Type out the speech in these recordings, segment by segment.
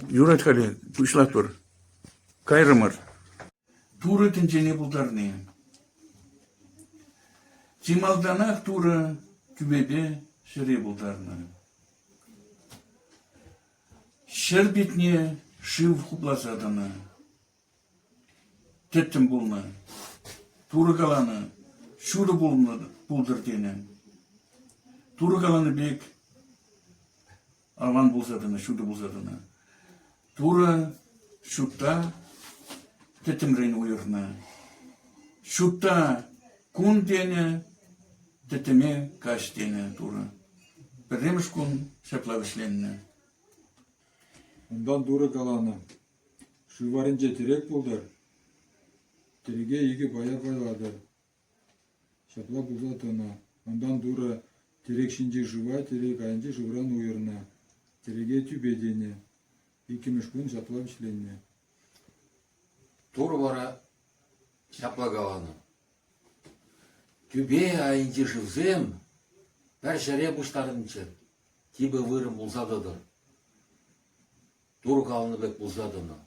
Юрать халӗ, пуҫлатпӑр. Кайрӑмӑр. Турӑ тӗнчене пултарни. Чи малтанах Турӑ тӳпепе ҫӗре пултарнӑ. Ҫӗр питне шыв хупласа тӑнӑ. Тӗттӗм пулнӑ, Турӑ каланӑ, ҫутӑ пултӑр тенӗ. Турӑ каланӑ пек аван пулса тӑнӑ, ҫутӑ пулса тӑнӑ. Турӑ ҫутта тӗттӗмрен уйӑрнӑ. Ҫутта кун тенӗ, тӗттӗме каҫ тенӗ Турӑ. Пӗрремӗш кун ҫапла вӗҫленнӗ. Унтан Турӑ каланӑ: Шыв варринче тӗрек пултӑр, тӗлӗке икӗ пая пайлатӑр. Ҫапла пулса тӑнӑ. Унтан Турӑ тӗрек ҫинчи шыва тӗрек айӗнчи шывран уйӑрнӑ, тӗрӗке тӳпе тенӗ. Иккӗмӗш кун ҫапла вӗҫленнӗ. Турӑ вара ҫапла каланӑ: Тӳпе айӗнчи шывсем пӗр ҫӗре пуҫтарӑнччӑр, типӗ вырӑн пулса тӑтӑр. турханлӑ пек пулса тӑнӑ.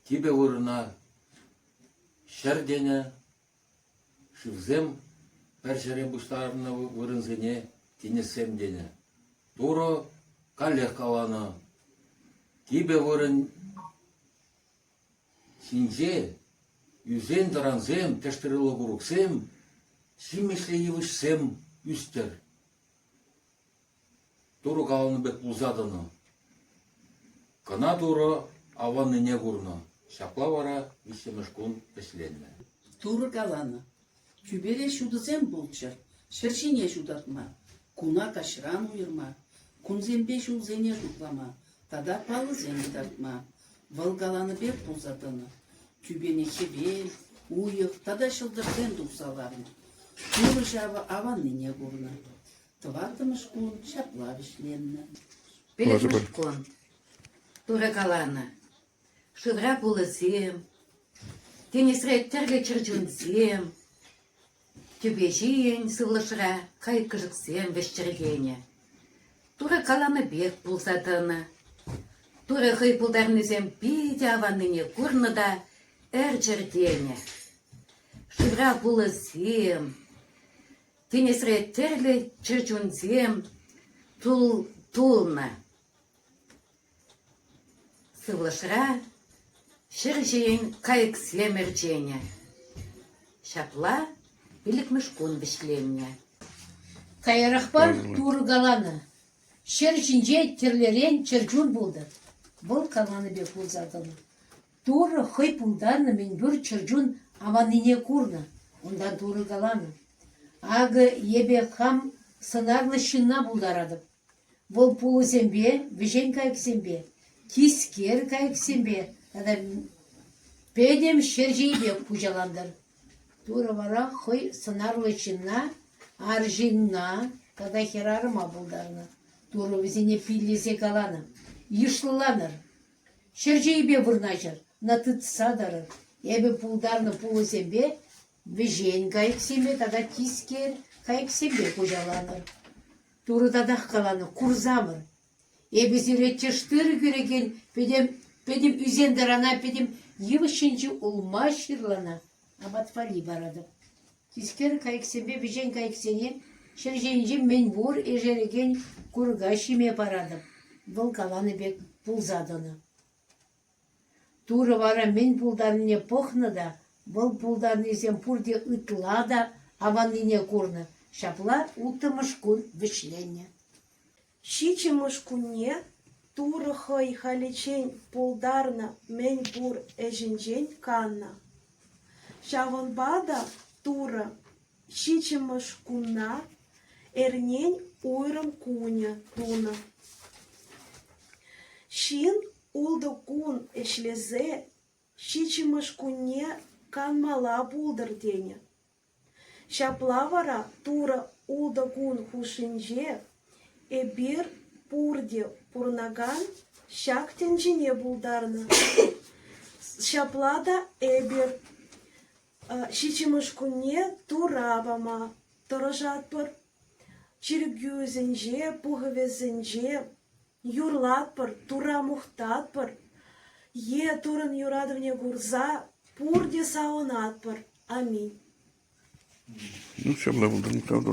Типӗ вырӑна ҫӗр тенӗ, шывсем пӗр ҫӗре пуҫтарӑннӑ вырӑнсене тинӗссем тенӗ. Турӑ каллех каланӑ, типӗ вырӑн ҫинче ӳсен-тӑрансем, тӗштырӑллӑ курӑксем, ҫимӗҫлӗ йывӑҫсем ӳстӗр. Турӑ каланӑ пек пулса тӑнӑ. Кӑна Турӑ аваннине курнӑ. Ҫапла вара виҫҫӗмӗш кун вӗҫленнӗ. Турӑ каланӑ, тӳпере ҫутӑсем пулччӑр, ҫӗр ҫине ҫутатма, куна каҫран уйӑрма, кунсемпе ҫулсене шутлама тата палӑсем кӑтартма, вӑл каланӑ пек пулса тӑнӑ. Тӳпене хӗвел, уйӑх тата ҫӑлтӑрсем тухса ларнӑ. Турӑ ҫавӑ аваннине курнӑ. Тӑваттӑмӗш кун ҫапла вӗҫленнӗ. Пӗлӗтмӗш кун Турӑ каланӑ, шывра пулӑсем, тинӗсре тӗрлӗ чӗрчунсем, тӳпе ҫийӗн сывлӑшра кайӑк-кӗшӗксем вӗҫчӗрхенӗ. Турӑ каланӑ пек пулса тӑнӑ. Турӑ хӑй пултарнисем питӗ аваннине курнӑ та ӗрчӗртенӗ. Шывра пулӑсем, Тинӗсре тӗрлӗ чӗрчунсем тулнӑ. Сывлӑшра ҫӗр ҫийӗн кайӑксем ӗрченӗ. Ҫапла пиллӗкмӗш кун вӗҫленнӗ. Каярахпа Турӑ каланӑ, ҫӗр ҫинче тӗрлӗрен чӗрчун пултӑр. Вӑл каланӑ пек пулса тӑнӑ. Турӑ хӑй пултарнӑ мӗнпур чӗрчун аманнине курнӑ, унтан Турӑ каланӑ: «Акӑ эпӗ хам сӑнарлӑ ҫынна пултаратӑп. Вӑл пулӑсемпе, вӗҫен кайӑксемпе, тискер кайӑксемпе тата пӗтӗм ҫерҫейпе хуҫалантӑр». Турӑ вара хӑй сӑнарлӑ ҫынна арҫынна тата хӗрарӑма пултарнӑ. Турӑ вӗсене пиллесе каланӑ: «Йышлӑланӑр!» Ҫӗр чейпе вырнаҫӑр, ӑна тытса тӑрӑр. Эпӗ пултарнӑ пулӑсемпе вӗҫен кайӑксене тата тискер кайӑксемпе хуҫаланӑр. Турӑ татах каланӑ: курсамӑр. Эпӗ сире тӗштыр кӳрекен пӗтӗм, пӗтӗм ӳсентӑрана пӗтӗм йывӑҫ ҫинчи улма ҫырлана, апат валли паратӑп. Тискер кайӑксемпе вӗҫен кайӑксене ҫӗр ҫинчи мӗнпур ишерекен курка ҫиме паратӑп, вӑл каланӑ пек пулса тӑнӑ. Турӑ вара мӗн пултарнине пӑхнӑ та, вӑл пултарнисем пурте ытла та аваннине курнӑ, ҫапла улттӑмӗш кун вӗҫленнӗ. Ҫиччӗмӗш кунне Турӑ хӑй халиччен пултарнӑ мӗн пур ӗҫӗнчен каннӑ. Ҫавӑнпа та Турӑ ҫиччӗмӗш кунна эрнен уйрӑм кунӗ тунӑ. Ҫын ултӑ кун ӗҫлесе ҫиччӗмӗш кунне канмалла пултӑр тенӗ. Ҫапла вара Турӑ ултӑ кун хушшинче эпир пурте пурӑнакан ҫак тӗнчене пултарнӑ. Ҫапла та эпир ҫиччӗмӗш кунне Тура пама тӑрӑшатпӑр. Чиркӳсенче, пухӑвӗсенче Юрлатпӑр, Тура мухтатпӑр е Туррӑн юратӑвне курса пурте савӑнатпӑр. Аминь. Ну, все, было бы, да,